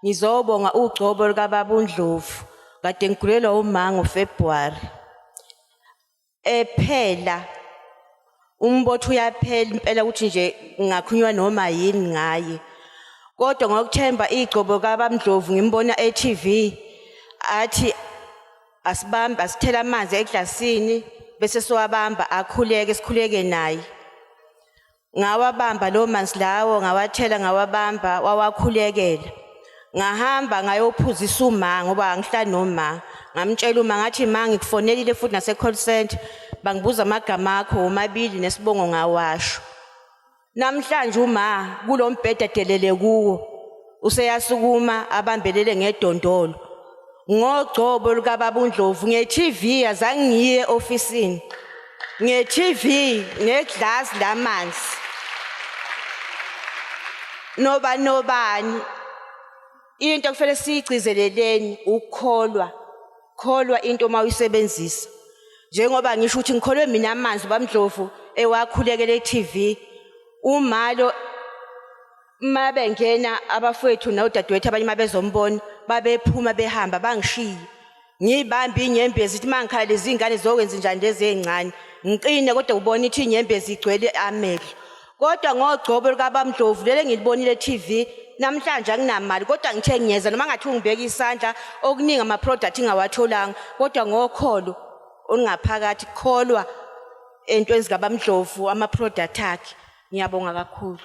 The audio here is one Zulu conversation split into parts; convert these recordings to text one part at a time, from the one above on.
Ngizobonga ugcobo lukababa uNdlovu kade ngigulelwa umanga uFebruary. Ephela umbotho uyaphela impela ukuthi nje ngakhunywa noma yini ngaye. Kodwa ngokuthemba igcobo kabamdlovu ngimbona e-TV athi asibambe asithela amanzi eglasini bese siwabamba akhuleke sikhuleke naye. Ngawabamba lawo manzi lawo, ngawathela ngawabamba, wawakhulekela. Ngahamba ngayophuzisa uma ngoba angihlali noma. Ngamtshela uma ngathi ma ngikufonelile futhi nase-call center bangibuza amagama akho womabili nesibongo ngawasho. Namhlanje uma kulo mbhede adelele kuwo useyasukuma abambelele ngedondolo ngogcobo lukababa uNdlovu nge-TV azange ngiye ofisini nge-TV neglass lamanzi noba nobani into kufanele siyigcizeleleni ukukholwa kholwa into uma uyisebenzisa njengoba ngisho ukuthi ngikholwe mina amanzi bamdlovu ewakhulekele e-TV umalo uma bengena abafowethu nodadewethu abanye uma bezombona babephuma behamba bangishiye ngiyibambe inyembezi ithi uma ngikhala lezi ngane zokwenza njani lezi ey'ncane ngiqine kodwa ubona ithi inyembezi igcwele amehlo kodwa ngogcobo lukabamdlovu leli engilibonile e-tv namhlanje anginamali kodwa ngithe ngiyeza noma ngathi ungibeka isandla okuningi ama-product ingawatholanga kodwa ngokholo olungaphakathi kukholwa entweni zikabamdlovu ama-product akhe ngiyabonga kakhulu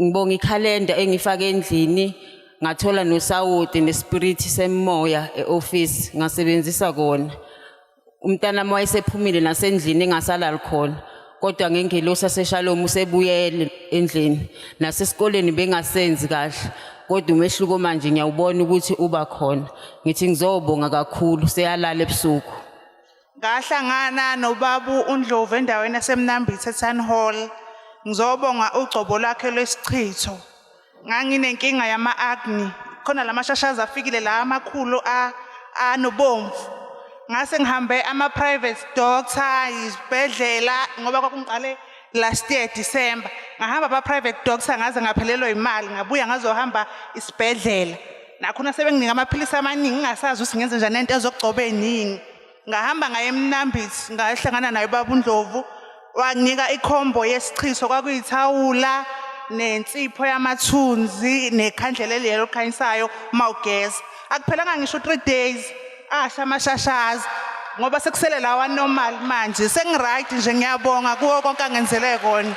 ngibonga ikhalenda engifake endlini ngathola nosawoti nespirit semoya eoffice ngasebenzisa kona umntana wami wayesephumile nasendlini engasalali khona kodwa ngengelosi aseshalomu usebuyele endlini nasesikoleni bengasenzi kahle kodwa umehluko manje ngiyawubona ukuthi uba khona ngithi ngizobonga kakhulu seyalala ebusuku Ngahlangana nobabu uNdlovu endaweni yaseMnambithe Town Hall ngizobonga ugcobo lwakhe lwesichitho. Nganginenkinga yama-agni khona la mashashazi afikile la amakhulu anobomvu. Ngase ngihambe ama-private doctor, izibhedlela ngoba kwakungiqale last year December. Ngahamba ama-private doctor ngaze ngaphelelwa imali ngabuya ngazohamba isibhedlela. nakhona sebenginika amaphilisi amaningi ngingasazi ukuthi ngenze njani nento ezokugcoba eningi ngahamba ngaye emnambithi ngahlangana naye ubaba undlovu wanginika ikhombo yesichiso kwakuyithawula nensipho yamathunzi nekhandlela eliyelo likhanyisayo uma ugeza akuphelanga ngisho u-three days asha amashashazi ngoba sekusele lawa normal manje sengiright nje ngiyabonga kuwo konke angenzele kona